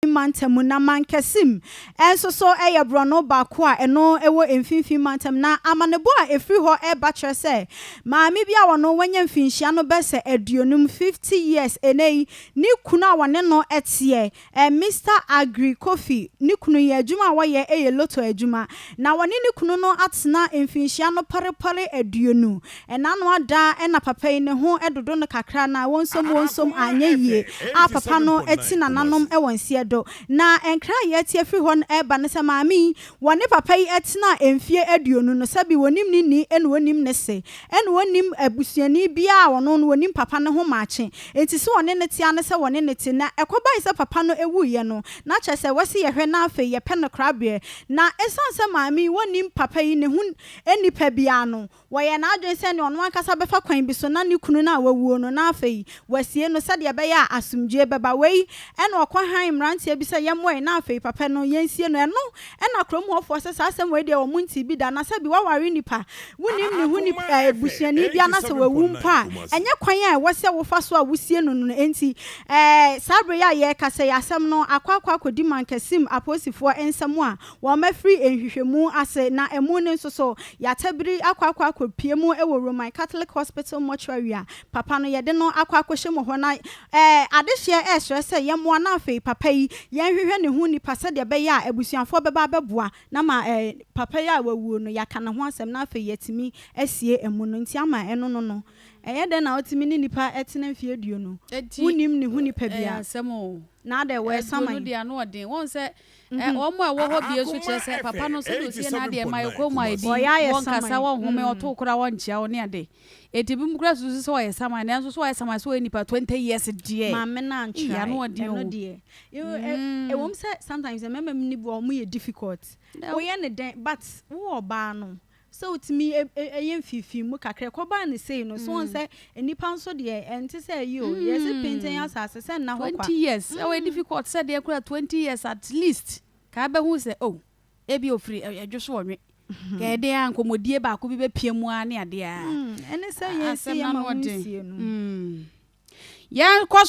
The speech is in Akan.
mfinimfini mantam mu, na Mankesim nso so yɛ borɔno baako a ɛno wɔ mfinimfini mantam. Na amanebɔ a ɛfiri hɔ reba kyerɛ sɛ maame bi a wɔno wanya mfinhyia no bɛsɛ aduonum, fifty years, ɛnnɛ yi, ne kunu a wɔne no teɛ, ɛ, Mister Aggrey Kofi, ne kunu yi, adwuma a wɔyɛ yɛ lotto adwuma. Na wɔne ne kunu no atena mfinhyia no pare pare aduonu. Ɛna no ada na papa yi ne ho dodo no kakra na wonsom wonsom anyɛ yie a papa no ti nananom wɔ nseɛ do. Na nkra a yɛte afiri hɔ no ɛba ne sɛ maame yi wɔne papa yi tenaa mfie aduonu no sɛbi wɔnim ne ni ɛna wɔnim ne se ɛna wɔnim abusuani biaa a wɔno no wɔnim papa no ho maakye nti se wɔne no te a ne sɛ wɔne no te na ɛkɔbae sɛ papa no wuiɛ no na kyerɛ sɛ wɔse yɛhwɛ na afei yɛpɛ no korabeɛ na ɛsiane sɛ maame yi wɔnim papa yi ne ho nipa biaa no Wɔyɛɛ n'adwene sɛ ɛnneɛ ɔno ankasa bɛfa kwan bi so na ne kunu no a wawuo no na afei wasie no sɛdeɛ ɛbɛyɛ a asomdwoeɛ bɛba. Wei na ɔkɔ hann mmeranteɛ bi sɛ yɛmmɔ yi na afei papa no yɛnsie no. Ɛno na kurom hɔfoɔ sɛ saa asɛm wei deɛ wɔn ntee bi da. Na sɛ bi waware nnipa a wonim ne ho nip ɛɛ busuani bi anaasɛ wawu mpo a ɛnyɛ kwan a ɛwɔ sɛ wofa so a wosie no no enti ɛɛ saa berɛ yi a yɛrekasa yi asɛm no akɔ akɔ akɔdi Mankasim apolisifoɔ nsam a Wɔafiri nhwehwɛmu ase na ɛmu no nso so yɛata biri akɔ akɔ akɔpue mu wɔ Roman Catholic Hospital mortuary a papa no yɛde no akɔ akɔhyɛ mu hɔ na adehyeɛ resrɛ sɛ yɛmmoa na afei papa yi yɛnhwehwɛ ne ho nipa sɛdeɛ ɛbɛyɛ a abusuafoɔ bɛba abɛboa na ma papa yi a wawuo no yɛaka ne ho asɛm na afei yɛatumi asie amu no nti ama ɛno no no ɛyɛ dɛn na wotumi ne nipa tena mfeɛ aduonu wonnim ne ho nipa biara na adɛn wɔresa man. Ɛ wɔn a ɛwɔ hɔ bie nso kyerɛ sɛ papa no sɛdeɛ ɔsie n'adeɛ ma ɛkɔ mu ayɛ din, wɔnkasa, wɔnhome, ɔto wo koraa wɔnkyea wo ne ade. Enti binom koraa susu sɛ ɔyɛ saman, nanso sɛ ɔyɛ saman sɛ ɔyɛ nipa 20 years deɛ, Maame no eii antrae ano ɔden ɛno oo. deɛ you know ɛ ɛwɔ mu sɛ sometimes mmarima mu no bi wɔ hɔ a wɔyɛ difficult Dɛw. woyɛ no dɛn but wo ɔbaa no Sɛ otumi yɛ mfifii mu kakra, ɛkɔbaa no sei no, so wohu sɛ nnipa nso deɛ ɛnte sɛ ayi o, yɛ se pintinn asase sɛ nna hɔ kwa. Twenty years, ɛwɔ yɛ difficult sɛ deɛ koraa twenty years at least kaa bɛhu sɛ oh ebia ofiri ɛdwo so ɔnwe, ka ɛdeɛn ara nkɔmɔdie baako bi bɛpia mu ara ne adeɛ ara, asɛm no ano ɔden. Yɛnkɔ so.